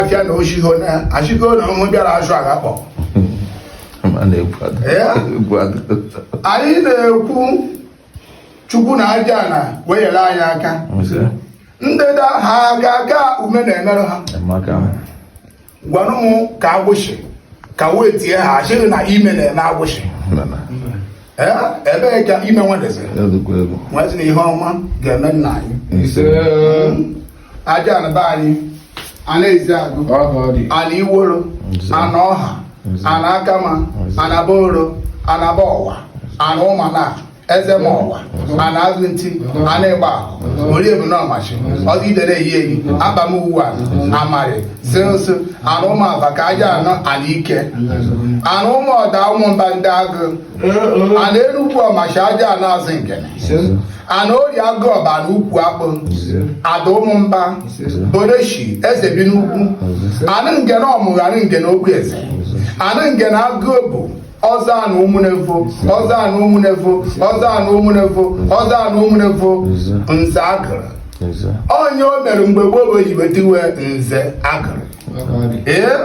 afịa na oshiho na achịgo na ụmụ bịara azụ agha kpọ anyị na-ekwu chukwu na ajana wenyere anyị aka ndịda ha ga-aga ume na-emerụ ha gwanụ m ka agwụsị ka wee tie ha achịghị na ime na-eme agwụsị ebee ka ime nwadeze nwazi na ihe ọma ga-eme nna anyị ajana be anyị ana eziagụ ana iworo ana ọha ana akama ana boro ana bọwa ana ụmana ezema ọwa ana azụ nti ana ịgba ahụ orie bụ n'ọmachi ọdụ idere eyi eyi aba m uwe a amarị si nso ana ụmụ aba ka ajana ana ike ana ụmụ ọda ụmụmba ndịagụ ana enugwu ọmachi ajana azụ ngene ana ori agụ ọba na ukwu akpụ ada ụmụmba boreshi eze bi n'ukwu ana ngene ọmụga ana ngene ogbueze ana ngene agụ bụ ọzọ anụ ụmụnevo ọzọ anụ ụmụnevo ọzọ anụ ụmụnevo ọzọ anụ ụmụnevo nze agụrụ onye o mere mgbe gboo bụ oyibo tiwe nze agụrụ ee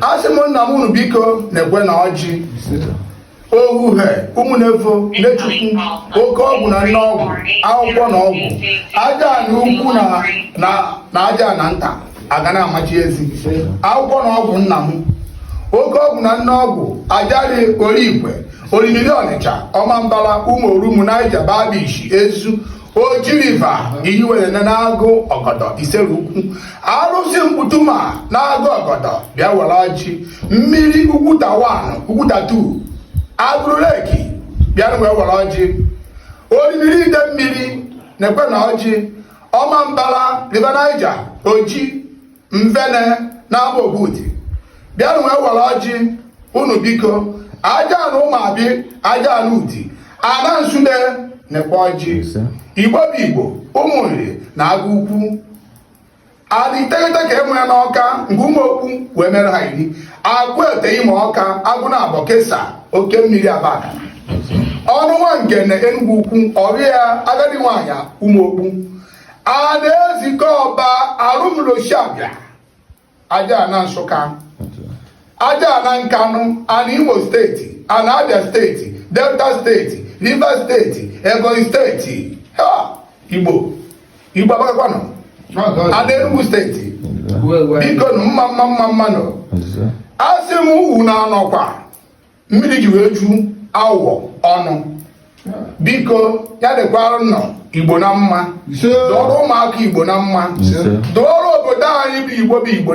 asị m nna m unu biko nekwanụ ọjị ohuhe ụmụnevo nechukwu oke ọgwụ na nne ọgwụ akwụkwọ na ọgwụ ajana ukwu na ajana nta aga na-amachi ezi akwụkwọ na ọgwụ nna m oke ọgwụ na nne ọgwụ ajari origwe orimiri ọnịcha ọmambala ụmụ orumu naija bar beach ezu oji river iyiwere n'agụ ọgọdọ isere ukwu arụsị mkputuma n'agụ ọgọdọ bịa were ọjị mmiri ugwuta one ugwuta two agụrụ lake bịanụ wee were ọjị orimiri ide mmiri nekwanụ ọjị ọmambara river niger oji nvene na agbaogwu udi bịanụ wee were ọjị unu biko ajana ụmụabi ajana udi ana nsude nekwa ọjị igbo bụ igbo ụmụ nri na agụ ukwu adị iteghete ka enwe ya n'ọka nke ụmụokpu wee mere ha iri agụ ete imọka agụ na abọ kesa oke mmiri abagana ọnụ nwa ngene enugwu ukwu ọrịa agadi nwaanyị ụmụokpu ana ezike ọba arụmloshabịa ajana nsụka ajana nkanụ ana imo steeti ana abia steeti delta steeti rivers steeti ebonyi steeti ha igbo igbo agbakakwanụ ana enugu steeti bikonụ mma mma mma mmanụ asị m unu anọkwa mmiri ji wee ju awọ ọnụ biko ya dịkwaranụ igbo na mma dụrụ ụmụaka igbo na mma dụrụ obodo anyị bụ igbo bụ igbo na